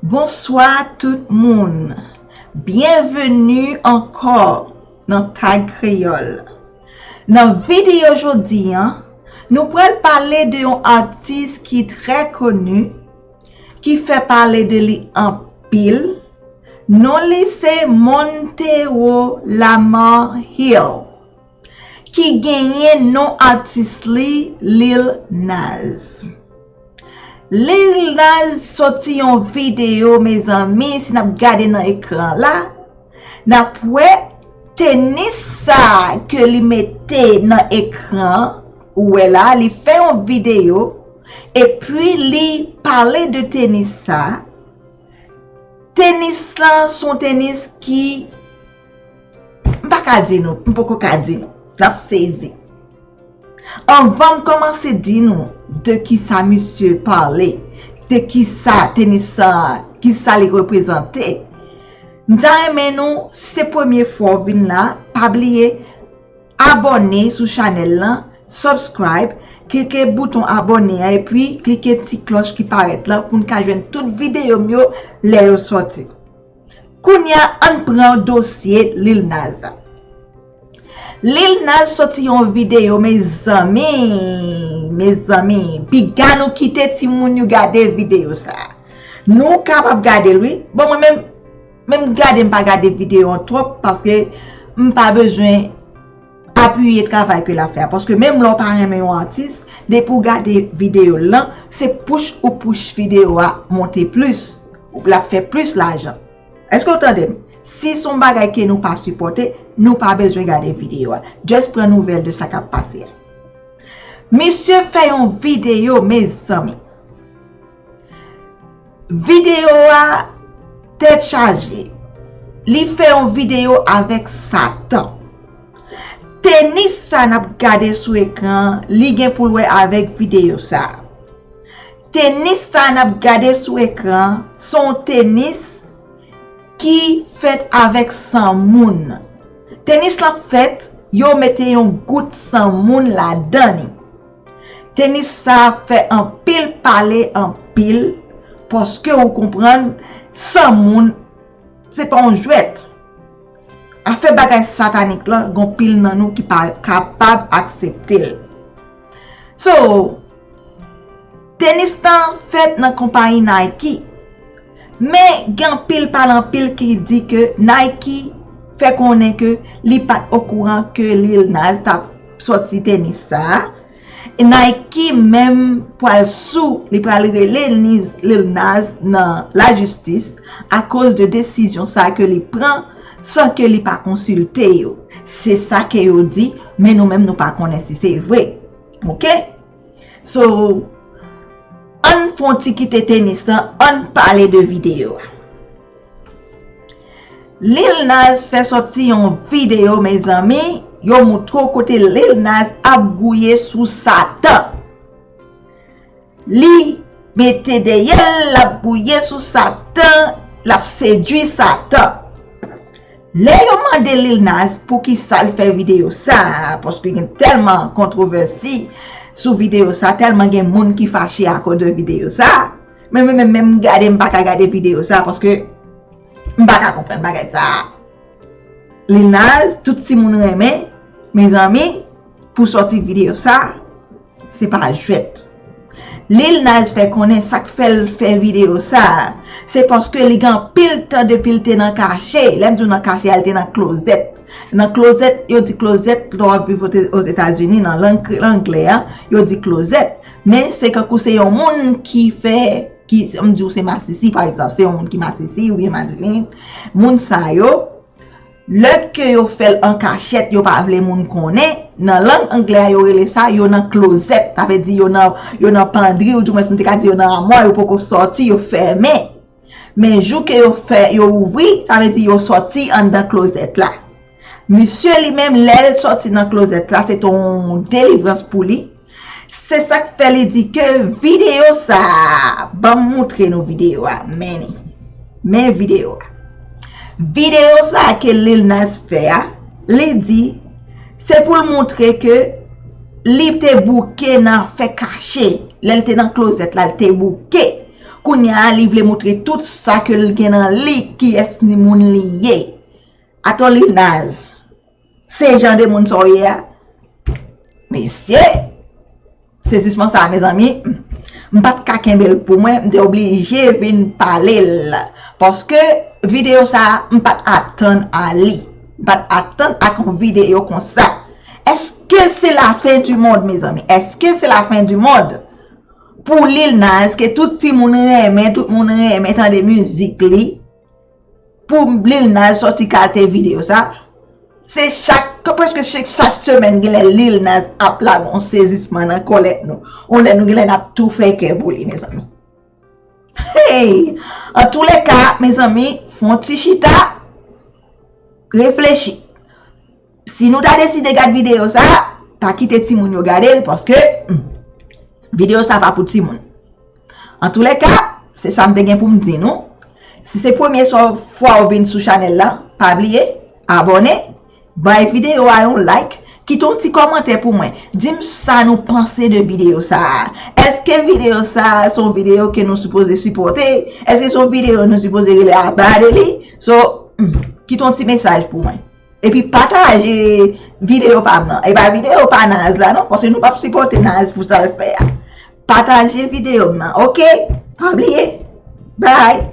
Bonswa tout moun! Byenveni ankò nan Tag Kreyòl! Nan videyo jodi an, nou pral pale de yon atis ki trè koni, ki fè pale de li anpil, non li se Montero Lamarre Hill. ki genyen non atis li Lil Nas Lil Nas soti yon video mezanmi si nap gade nan ekran la nap wè tenis sa ke li mete nan ekran ou wè la li fè yon video epi li pale de tenis sa tenis lan son tenis ki M pa ka di nou, m poko ka di nou. N ap sezi. Anvan m kòmanse di nou de ki sa misye pale, de ki sa tenis sa, ki sa li reprezante, m ta renmen nou, se premye fwa w vin la, pa bliye abòne sou chanèl lan, subscribe, klike bouton abòne a, epi klike ti klòch ki parèt lan pou n ka jwenn tout videyo m yo lè yo sòti. Kounya ann pran dosye Lil Nas an. Lil Nas soti yon video mezanmi mezanmi piga nou kite timoun yo gade video sa. Nou kapab gadel wi bon mwen menm menm gade mpa gade video an twòp paske mpa bezwen Apiye travay ke lap fè a. Paske menm lè ou pa renmen yon atis, depi ou gade video l lan, se push ou push video a monte plis. Lap fè plis lajan. Eske ou tande m? Si son bagay ke nou pa sipòte, nou pa bezwen gade video a. Just pran nouvèl de sa kap pase a. Misye fè yon video mezanmi. Video a tèt chaje. Li fè yon video avèk satan. Tenis sa nap gade sou ekran li gen pou l wè avèk video sa. Tenis sa nap gade sou ekran son tenis ki fèt avèk san moun. Tenis la fèt yo mete yon gout san moun ladan li. Tenis sa fè anpil pale anpil paske ou konprann san moun se pa yon jwèt. Afè bagay satanik lan gon pil nan nou ki pa kapab aksepte l. So, tenis tan fèt nan konpayi Nike. Men gen anpil pale anpil ki di ke Nike fè konnen ke li pat okouran ke Lil Nas tap. Soti tenis sa a. Nike menm pwal sou li pral rele Lil Nas nan la jistis akoz de desizyon sa ke li pran san ke li pa konsilte yo. Se sa ke yo di, men nou menm nou pa konnen si se vre. Ok? So, ann fon ti kite tenis lan, ann pale de video a. Lil Nas fè sòti yon videyo mezanmi yo moutre w kote Lil Nas ap gouye sou satan li mete dèyè l l ap gouye sou satan l ap sedwi satan lè yo mande Lil Nas poukisa l fè videyo sa paske gen tèlman kontwovèsi sou videyo sa tèlman gen moun ki fache akoz de videyo sa. Men men men men m gade m pa ka gade video sa paske m pa ka konpren bagay sa a. Lil Naz tout ti moun renmen mezanmi pou soti video sa a se pa jwèt. Lil Naz fè konnen sak fè l fè video sa a se paske li gen anpil tan depi l te nan kache, lè m di w nan kache a l te nan klozèt. Nan klozèt, yo di klozèt lè w ap viv ozetazini nan lang angle a yo di klozèt. Men se kankou se yon moun ki fè, ki m di ou se masisi pa egzanp, se yon moun ki masisi ou byen madivin, moun sa yo, lè ke yo fè l an kachèt yo pa vle moun konnen, nan lang angle a yo rele sa yo nan klozèt, ta vle di yo nan pandri ou di mwen si m te ka di yo nan amwa yo poko sòti, yo fèmen. Men jou ke yo fè yo ouvri, sa vle di yo sòti anndan klozèt la. Misye li menm lè l sòti nan klozèt la se te yon delivrans pou li. Se sa k fè li di ke videyo sa a, ban m moutre nou videyo a, men li. Men videyo a. Videyo sa a ke Lil Nas fè a, li di se pou l moutre ke li te bouke nan fè kache. Lè l te nan klozèt la, l te bouke. Kounya li vle moutre tout sa ke l gen nan li kiyès ni moun li ye. Atò li naz. Se jan de moun sa w ye a? Mesye! Sezisman sa a mezanmi, m pa t ka kenbe l pou mwen, m te oblije vin pale l. Paske videyo sa a m pa t atann a li. M pa t atann ak yon videyo konsa. Eske se lafen di mond mezanmi? Eske se lafen di mond? Pou Lil Nas ke tout ti moun renmen, tout moun renmen tande mizik li, pou Lil Nas soti kalte video sa, se chak, preske chak semèn gen lè Lil Nas ap lage yon sezisman nan kòlèt nou. Yon lè nou gen lè nap tou fè kè pou li mezanmi. Hey! An tou le ka mezanmi, fon ti chita, reflechi. Si nou ta deside gad video sa, pa kite timoun yo gadel paske video sa pa pou timoun. An tou le ka, se sa m te gen pou m di nou. Si se premye so fwa ou vin sou chanel la, pa bliye, abone, bay video a yon like, kite yon ti komante pou mwen. Di m sa nou panse de video sa. Eske video sa son video ke nou sipoze sipote? Eske son video nou sipoze rele aba de li? So, kite yon ti mesaj pou mwen. Epi pataje video pam nan. Epa video pa naz la non. Paske nou pap sipote naz pou sal fè a. Pataje video m nan. Ok. Pabliye. Bye.